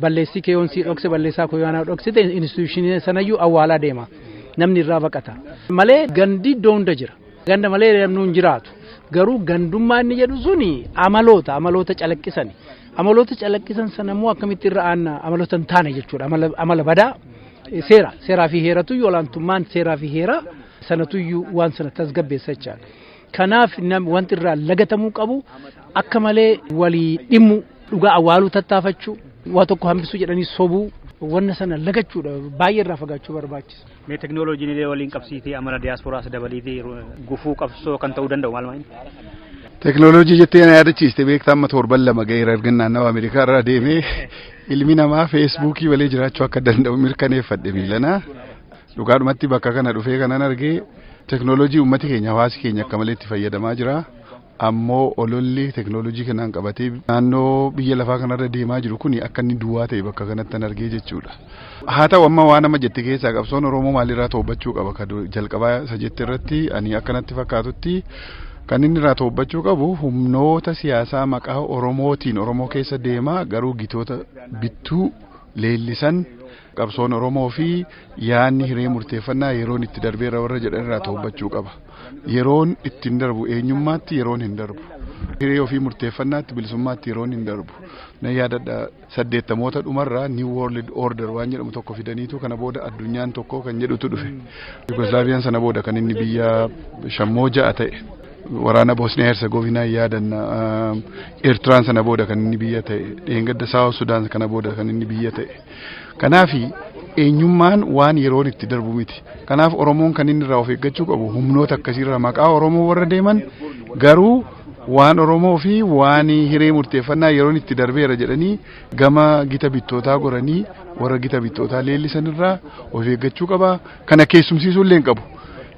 balleessii kee yoon sii dhokse balleessaa koo yoon dhoksite instituushinii sanayyuu awwaalaa deema. Namni irraa baqata. Malee gandi iddoo hunda jira. Ganda malee namni hin jiraatu. Garuu gandummaa inni jedhu suni amaloota amaloota calaqqisani. Amaloota calaqqisan sana immoo akkamitti irra aanna amaloota hin taane jechuudha. Amala badaa seera seeraa fi heeratu olaantummaan seeraa fi heeraa sanatuyyuu waan sana tasgabbeessa jecha. Kanaaf wanti irraa lagatamuu qabu akka malee walii dhimmu dhugaa awwaaluu tattaafachuu waa tokko hambisuu jedhanii sobuu wanna sana lagachuudha baay'ee irraa fagaachuu barbaachisa. Mee teknooloojiin illee waliin qabsiitee amala diyaaspooraas dabaliitee gufuu qabsoo kan ta'uu danda'u maal maal? Teknooloojii jettee na yaadachiiste beektaa amma torban lama ga'eera erga naannawa Ameerikaa irraa deemee ilmi namaa feesbuukii malee jiraachuu akka danda'u mirkaneeffadhe miilanaa. Dhugaadhumatti bakka kana dhufee kanan arge teknooloojii uummati keenya hawaasi keenya akka malee itti fayyadamaa jira. Ammoo ololli teknooloojii kanaan qabatee naannoo biyya lafaa kanarra deemaa jiru kun akka inni duwwaa ta'e bakka kanatti argee jechuudha. Haa ta'u amma waan amma jette keessaa qabsoon Oromoo maalirraa to'achuu qaba kan jalqabaa isa jette irratti ani akkanatti fakkaatutti kan inni irraa to'achuu qabu humnoota siyaasaa maqaa Oromootiin Oromoo keessa deemaa garuu gitoota bittuu leellisan Qabsoon Oromoo fi yaadni hiree murteeffannaa yeroon itti darbeera warra jedhan irraa to'achuu qaba. Yeroon itti hin darbu eenyummaatti yeroon hin darbu. Hiree ofii murteeffannaatti bilisummaatti yeroon hin darbu. Na yaadadha saddeettamoota dhumarraa New World Order waan jedhamu tokko fidaniitu kana booda addunyaan tokko kan jedhutu dhufe. Yugoslaaviyaan sana booda kan inni biyya shammoo ja'a ta'e. waraana Boosniyaa Herzegovinaa yaadanna. Eertiraan sana booda kan inni biyya ta'e. Dheengadda Saawus Sudaan kana booda kan inni biyya ta'e. Kanaaf eenyummaan waan yeroon itti darbu miti. Kanaaf Oromoon kan inni irraa of eeggachuu qabu humnoota akkasiirraa maqaa Oromoo warra deeman garuu waan Oromoo fi waan hiree murteeffannaa yeroon itti darbeera jedhanii gama gita bittootaa goranii warra gita bittootaa leellisanirraa of eeggachuu qaba. kana keessumsiisuu illee hin qabu.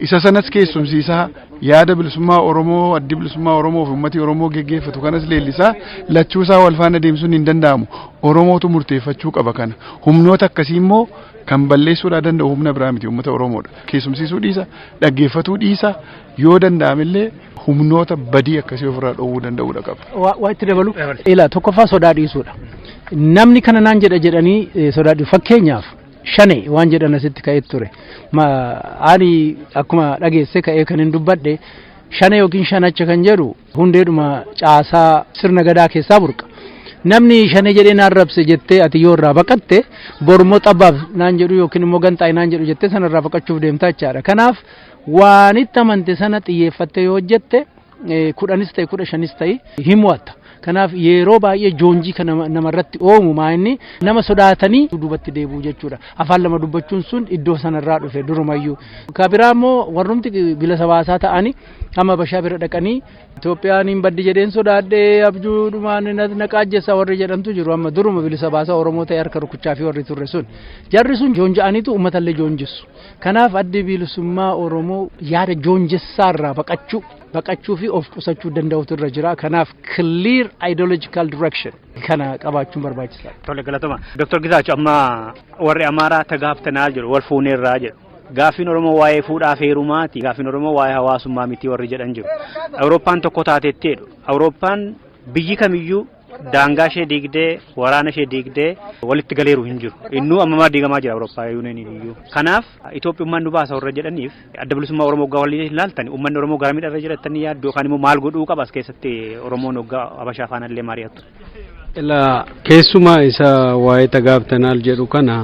Isa sanas keessumsiisaa yaada bilisummaa Oromoo addi bilisummaa Oromoo fi uummatii Oromoo geggeeffatu kanas leellisaa lachuu isaa wal faana deemsuun hin danda'amu. Oromootu murteeffachuu qaba kana. Humnoota akkasii immoo kan balleessuudhaa danda'u humna biraa miti uummata Oromoodha. Keessumsiisuu dhiisa, dhaggeeffatuu dhiisa yoo danda'amillee humnoota badii akkasii ofirraa dhoowwuu danda'uudha qaba. Waa itti dabalu. Ila tokkoffaa sodaa dhiisuudha. Namni kana naan jedha jedhanii sodaa dhiisu. Fakkeenyaaf shane waan jedhan asitti ka'ee ture. Ani akkuma dhageesse ka'ee kan hin dubbadhe shane yookiin shanacha kan jedhu hundeedhuma caasaa sirna gadaa keessaa burqa. Namni shane jedhee naan rabse jettee ati yoo irraa baqatte bormoo xabbaaf naan jedhu yookiin immoo ganxaa'e naan jedhu jettee sanarraa baqachuuf deemtaa jechaadha. Kanaaf waanitti amante sana xiyyeeffattee yoo hojjette kudhanis ta'e kudha shanis ta'e hin mo'atta. Kanaaf yeroo baay'ee joonjii kan namarratti oomu maa inni nama sodaatanii duubatti deebi'u jechuudha. Afaan lama dubbachuun sun iddoo sanarraa dhufe durumayyuu. Ka biraa immoo warrumti bilisa baasaa ta'anii amma bashaa bira dhaqanii Itoophiyaan hin baddi jedheen sodaadhee abjuu dhumaan na qaajjessa warri jedhantu jiru amma duruma bilisa baasaa Oromoo ta'e harka rukuchaa fi warri turre sun. Jarri sun joonja'aniitu uummatallee joonjissu. Kanaaf addi bilisummaa Oromoo yaada joonjessaa irraa baqachuu baqachuu fi of qusachuu danda'utu irra jira. Kanaaf clear ideological direction kana qabaachuun barbaachisaa. Tole galatoma. Dr. Gizaachu amma warri Amaaraa tagaaftanaa jiru wal fuuneerraa jedhu. Gaaffiin Oromoo waa'ee fuudhaa fi heerumaati. Gaaffiin Oromoo waa'ee hawaasummaa miti warri jedhan jiru. Awurooppaan tokko taateetti jedhu. Awurooppaan biyyi kamiyyuu daangaa ishee diigdee waraana ishee diigdee walitti galeeru hin jiru. Innuu ammamaa diigamaa jira Awurooppaa yuuniyeeniin iyyuu. Kanaaf Itoophiyummaan nu baasa warra jedhaniif adda bilisummaa Oromoo hoggaa waliin ilaaltan uummanni Oromoo gara miidhaa irra jiraatanii yaaddu yookaan immoo maal godhuu qaba as keessatti Oromoon hoggaa Habashaa faana illee mari'attu. Ilaa keessumaa isa waa'ee tagaabtanaal jedhu kana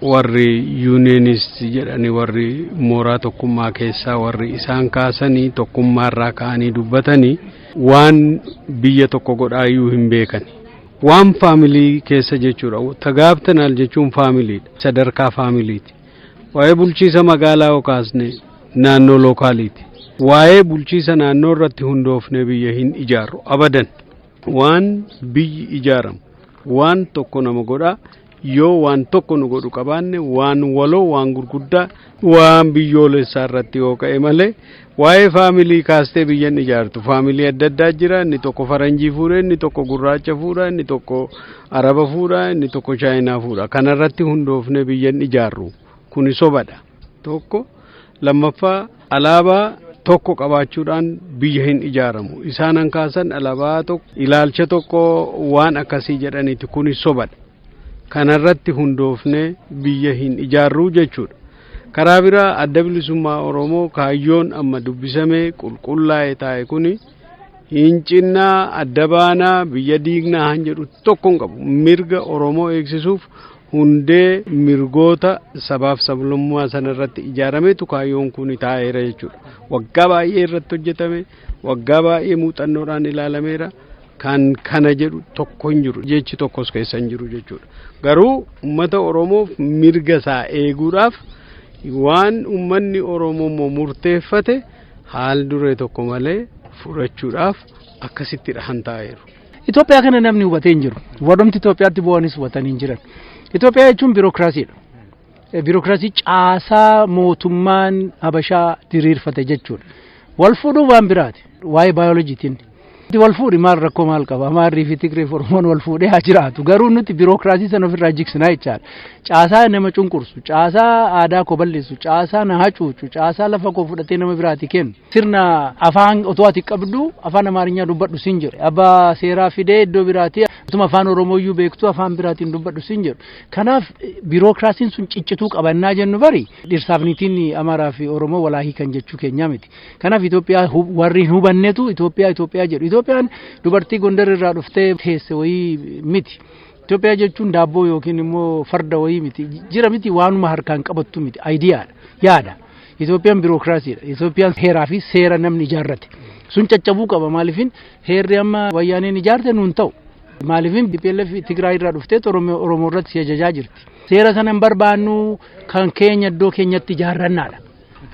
warri yuuniyeeniist jedhani warri mooraa tokkummaa keessaa warri isaan kaasanii tokkummaarraa ka'anii dubbatanii waan biyya tokko godhaa iyyuu hin beekani. Waan faamilii keessa jechuudha. Tagaabtanaal jechuun faamiliidha. Sadarkaa faamiliiti. Waa'ee bulchiisa magaalaa yoo kaasne naannoo lookaaliiti. Waa'ee bulchiisa naannoo irratti hundoofnee biyya hin ijaarru abadan. Waan biyyi ijaaramu waan tokko nama godhaa yoo waan tokko nu godhu qabaanne waan waloo waan gurguddaa waan biyyoolessaa irratti yoo ka'e malee waa'ee faamilii kaastee biyyan ijaartu faamilii adda addaa jira inni tokko faranjii fuudha inni tokko gurraacha fuudha inni tokko araba fuudha inni tokko chaayinaa fuudha kanarratti hundoofne biyyan ijaarru kuni sobadha tokko lammaffaa alaabaa tokko qabaachuudhaan biyya hin ijaaramu isaan an kaasan alaabaa tokko ilaalcha tokko waan akkasii jedhaniiti kunis sobadha kanarratti hundoofne biyya hin ijaarruu jechuudha karaa biraa adda bilisummaa oromoo kaayyoon amma dubbisame qulqullaa'e taa'e kuni hincinnaa adda baanaa biyya diignaa han jedhu tokko hin qabu mirga oromoo eegsisuuf hundee mirgoota sabaaf sablammaa sana irratti ijaarametu kaayyoon kun taa'eera jechuudha. Waggaa baay'ee irratti hojjetame, waggaa baay'ee muuxannoodhaan ilaalameera. Kan kana jedhu tokko hin jiru, jechi tokkos keessa hin jiru jechuudha. Garuu uummata Oromoof mirga isaa eeguudhaaf waan uummanni Oromoo immoo murteeffate haal duree tokko malee fudhachuudhaaf akkasittidha kan taa'eeru. Itoophiyaa kana namni hubatee hin jiru. Warrumti Itoophiyaatti bu'anis hubatanii hin jiran. Itoophiyaa jechuun biirokiraasiidha. Biirokiraasii caasaa mootummaan Habashaa diriirfate jechuudha. Wal fuudhuu waan biraati. Waa'ee baayolojiitiin. Wal fuudhi maal rakkoo maal qaba? Amaarrii fi Tigree fi Oromoon wal fuudhee haa jiraatu. Garuu nuti biirokiraasii sana ofirraa jigsinaa jechaadha. Caasaa nama cunqursu, caasaa aadaa koo balleessu, caasaa na hacuucu, caasaa lafa koo fudhatee nama biraati kennu. Sirna afaan otoo ati qabdu afaan Amaarinyaa dubbadhu sin jedhu. Abbaa seeraa fidee iddoo biraatii utuma afaan Oromooyyuu beektu afaan biraatiin dubbadhu sin jedhu. Kanaaf biirookiraasiin sun ciccituu qabannaa jennu bari dhirsaaf niitiin Amaaraa fi Oromoo walaahii kan jechuu keenyaa miti. Kanaaf Itoophiyaa warri hin hubannetu Itoophiyaa Itoophiyaa jedhu. Itoophiyaan dubartii Gondar irraa dhuftee teesse wayii miti. Itoophiyaa jechuun daabboo yookiin immoo farda wayii miti. Jira miti waanuma harkaan qabattu miti. Ayidiyaadha. Yaada. Itoophiyaan birookiraasiidha. Itoophiyaan heeraa fi seera namni ijaarrate. Sun caccabuu qaba maaliifin heerri amma wayyaaneen ijaarte nuun ta'u. Maaliifin BPLF Tigraay irraa dhuftee Oromoo irratti si ajajaa jirti. Seera sana hin barbaannu kan keenya iddoo keenyatti ijaarrannaadha.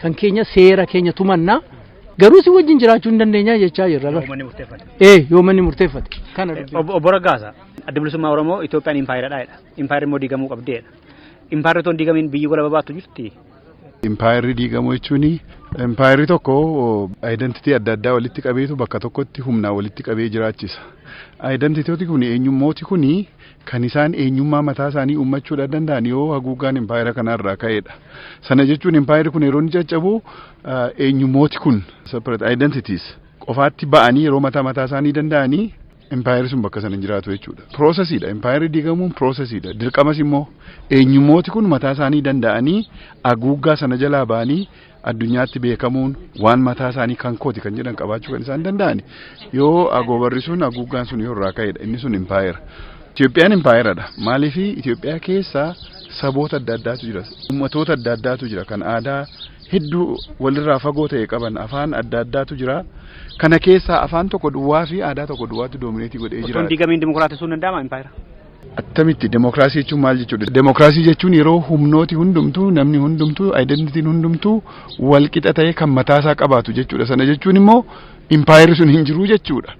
Kan keenya seera keenya tumannaa garuu si wajjin jiraachuu hin dandeenya jechaa jirra. Ee yoo manni murteeffate. Kana Obbo Raggaasa adda bilisummaa Oromoo Itoophiyaan impaayeradha jedha. Impaayerri immoo diigamuu qabdeedha. Impaayerri otoo hin diigamiin biyyi gola babaattu jirti. Impaayerri diigamuu jechuun impaayerri tokko ayidantitii adda addaa walitti qabeetu bakka tokkotti humnaa walitti qabee jiraachisa. Ayidantitooti kun eenyummooti kun kan isaan eenyummaa mataa isaanii uummachuudha danda'an yoo haguuggaan impaayera kanarraa ka'edha. Sana jechuun impaayerri kun yeroo inni caccabu eenyummooti kun separate identities qofaatti ba'anii yeroo mataa mataa isaanii danda'anii Impaayerri sun bakka sana hin jiraatu jechuudha. Piroosesiidha. Impaayerri diigamuun piroosesiidha. Dirqamas immoo eenyummooti kun mataa isaanii danda'anii haguuggaa sana jalaa ba'anii addunyaatti beekamuun waan mataa isaanii kan kooti kan jedhan qabaachuu kan isaan danda'an yoo agoobarri sun haguuggaan sun yoo irraa ka'edha. Inni sun impaayera. Itoophiyaan impaayeradha. Maaliif Itoophiyaa keessa saboota adda addaatu jira. Uummatoota adda addaatu jira. Kan aadaa hedduu walirraa fagoo ta'e qaban afaan adda addaatu jira. Kana keessaa afaan tokko duwwaa fi aadaa tokko duwwaatu doomineetii godhee Osoo hin jira. diigamiin dimokiraatessuu hin danda'ama impaayera. Attamitti demokiraasii jechuun maal jechuudha? Demokiraasii jechuun yeroo humnooti hundumtuu namni hundumtuu identitiin hundumtuu wal qixa ta'ee kan mataasaa qabaatu jechuudha. Sana jechuun immoo impaayerri sun hin jiru jechuudha.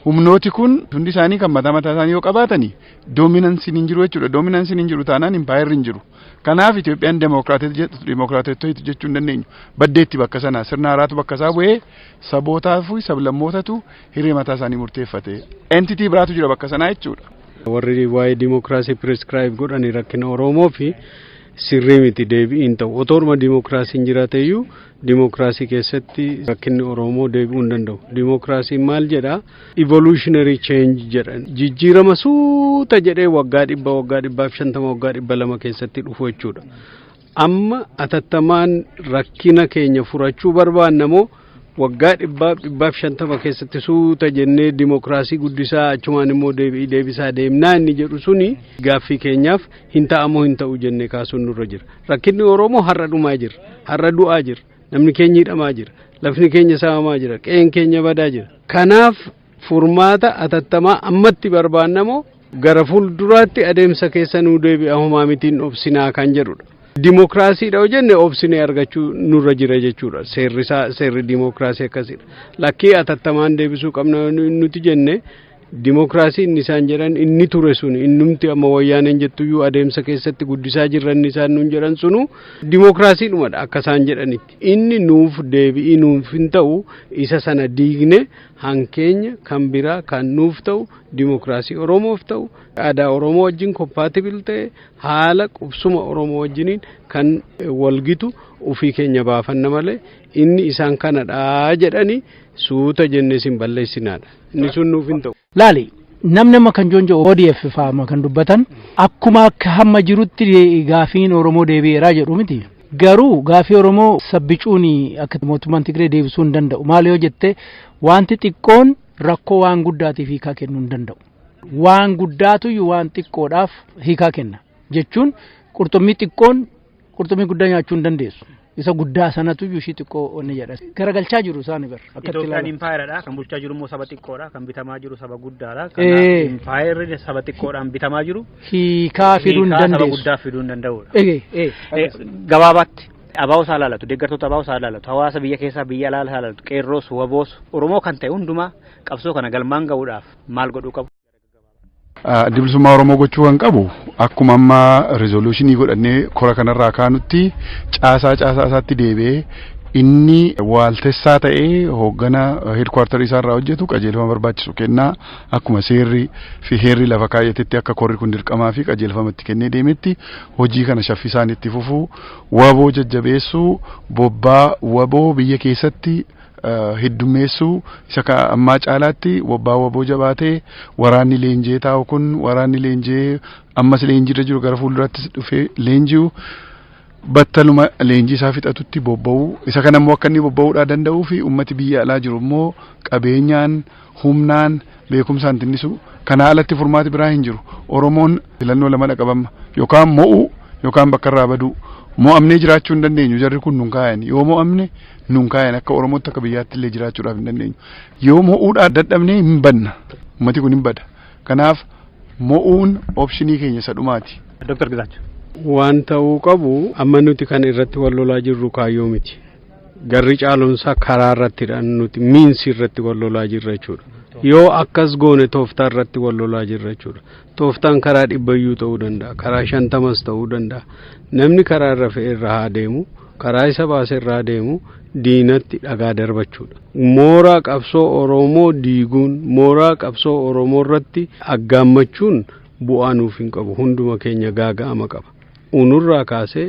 Humnooti kun hundi isaanii kan mataa mataa isaanii yoo qabaatani doominansiin hin jiru jechuudha. Doominansiin hin jiru taanaan impaayerri hin jiru. Kanaaf Itoophiyaan demookiraatota jedhu demookiraatottoitu jechuu hin dandeenyu. Baddeetti bakka sana sirna haaraatu bakka isaa bu'ee sabootaa fi sablammootatu hiree mataa isaanii murteeffate. Entitii biraatu jira bakka sanaa jechuudha. Warri waa'ee dimookiraasii piriskiraayib godhani rakkina Oromoo fi sirrii miti deebi'iin ta'u. Otooruma dimookiraasiin jiraateyyuu Dimookiraasii keessatti rakkinni Oromoo deebi'uu hin danda'u. Dimookiraasiin maal jedha? Evolutionary change jedha. Jijjiirama suuta jedhee waggaa dhibba waggaa dhibbaa fi shantama waggaa dhibba lama keessatti dhufu jechuudha. Amma atattamaan rakkina keenya furachuu barbaanna moo waggaa dhibbaaf dhibbaaf shantama keessatti suuta jennee dimookiraasii guddisaa achumaan immoo deebi'ii deebisaa deemnaa inni jedhu suni gaaffii keenyaaf hin ta'amoo hin ta'u jennee kaasuun nurra jira. Rakkinni Oromoo har'a dhumaa jira. Har'a du'aa jira. Namni keenya hidhamaa jira. Lafni keenya saamamaa jira. Qe'een keenya badaa jira. Kanaaf furmaata atattamaa ammatti barbaannamoo gara fuulduraatti adeemsa keessa nuu deebi'a homaa mitiin obsinaa kan jedhudha. Dimookiraasiidha yoo jenne obsinee argachuu nurra jira jechuudha. Seerri isaa seerri dimookiraasii akkasidha. Lakkii atattamaan deebisuu qabna nuti jenne Dimookiraasii inni isaan jedhan inni ture sun innumti amma wayyaaneen jettuyyuu adeemsa keessatti guddisaa jirra inni isaan nuun jedhan sunu dimookiraasii dhumadha akka isaan jedhanitti. Inni nuuf deebi'ii nuuf hin ta'u isa sana diigne hankeenya kan biraa kan nuuf ta'u dimookiraasii Oromoof ta'u aadaa Oromoo wajjin kompaatibil ta'e haala qubsuma Oromoo wajjiniin kan walgitu ofii keenya baafanna malee inni isaan kanadha jedhanii suuta jennee isin balleessinaadha. Inni sun nuuf hin ta'u. Laali namni amma kan joonjo ODF faama kan dubbatan akkuma akka hamma jirutti gaafiin Oromoo deebi'eeraa jedhu miti. Garuu gaafii Oromoo sabbicuun akka mootummaan Tigree deebisuu hin danda'u. Maal yoo jette wanti xiqqoon rakkoo waan guddaatiif hiikaa kennuu hin danda'u. Waan guddaatu waan xiqqoodhaaf hiikaa kenna. Jechuun qurxummii xiqqoon Qurxummii guddaa nyaachuu hin dandeessu. Isa guddaa sanatu iyyuu ishii xiqqoo onni jedha. Garagalchaa jiru isaan bar. Itoophiyaan impaayeradha. Kan bulchaa jiru immoo saba xiqqoodha. Kan bitamaa jiru saba guddaadha. Kanaaf impaayerri saba xiqqoodhaan bitamaa jiru. Hiikaa fiduu hin dandeessu. Saba guddaa fiduu hin danda'udha. Gabaabaatti abaa'oo isaa ilaalatu, deeggartoota abaa'oo isaa ilaalatu, hawaasa biyya keessaa biyya alaa ilaalatu, qeerroos, waboos, Oromoo kan ta'e hundumaa qabsoo kana galmaan ga'uudhaaf maal godhuu qabu? Addi bilisummaa Oromoo gochuu kan qabu akkuma amma rizooluushinii godhannee kora kanarraa kaanutti caasaa caasaa isaatti deebi'ee inni waaltessaa ta'ee hooggana heedkwaartarii isaarraa hojjetu qajeelfama barbaachisu kennaa akkuma seerri fi heerri lafa kaayyatetti akka korri kun dirqamaa fi qajeelfama itti kennee deemetti hojii kana shaffisaan itti fufuu waboo jajjabeessuu bobbaa waboo biyya keessatti heddummeessuu isa ka ammaa caalaatti wabbaa waboo jabaatee waraanni leenjee taa'u kun waraanni leenjee ammas leenjiirra jiru gara fuuldurattis dhufee leenji'u battaluma leenjii isaa fixatutti bobba'u isa kana immoo akka inni bobba'uudhaa danda'uu fi ummati biyya alaa jiru immoo qabeenyaan humnaan beekumsaan tinnisuu kanaa alatti furmaati biraa hin jiru oromoon filannoo lama dhaqabamma yookaan mo'uu yookaan bakka irraa baduu mo'amnee jiraachuu hin dandeenyu jarri kun nun kaayan yoo mo'amne nun kaayan akka oromootti akka biyyaatti illee jiraachuudhaaf hin dandeenyu yoo mo'uudhaaf dadhabnee hin badna ummati kun hin bada kanaaf mo'uun opshinii keenya isa dhumaati. Dr. Gizaachuu. Waan ta'uu qabu amma nuti kan irratti wal lolaa jirru kaayyoo miti. Garri caalumsaa karaa irrattidha nuti miinsi irratti wal lolaa jirra jechuudha. Yoo akkas goone tooftaa irratti wal lolaa jirra jechuudha. Tooftaan karaa dhibbayyuu ta'uu danda'a. Karaa shantamas ta'uu danda'a. Namni karaa irra fe'e irra haa deemu. Karaa isa baase irra haa deemu. Diinatti dhagaa darbachuudha. Mooraa qabsoo Oromoo diiguun mooraa qabsoo Oromoo irratti aggaammachuun bu'aa nuuf hin qabu. Hunduma keenya gaaga'ama qaba. uunurraa kaasee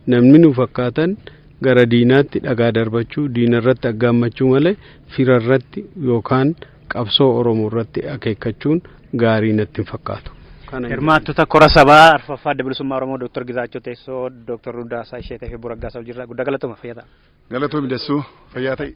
namni nu fakkaatan gara diinaatti dhagaa darbachuu, diinarratti aggaammachuu malee firarratti yookaan qabsoo Oromoo irratti akeekkachuun gaarii natti hin fakkaatu. Hirmaattota kora sabaa arfaffaa adda bilisummaa Oromoo Dooktar Gizaachoo Teessoo, Dooktar Ruddaasaa Isheetee fi Buraggaa Sabjirraa guddaa galatoomaa fayyaa ta'a. Galatoomi Dassuu fayyaa ta'i.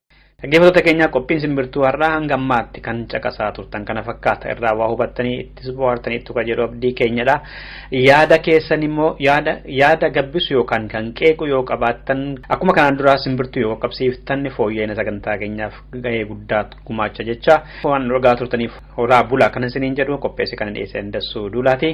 Dhaggeeffattoota keenyaa qophiin simbirtuu har'aa hanga ammaatti kan caqasaa turtan kana fakkaata irraa waa hubattanii ittis bohaartaniittu kan jedhu abdii keenyadha. Yaada keessan immoo yaada yaada gabbisu yookaan kan qeequ yoo qabaattan akkuma kanaan duraa simbirtuu yoo qaqqabsiiftan fooyya'ina sagantaa keenyaaf gahee guddaa gumaacha jecha waan dhugaa turtaniif horaa bulaa kan isiniin jedhu qopheesse kan dhiyeesse dassuu duulaati.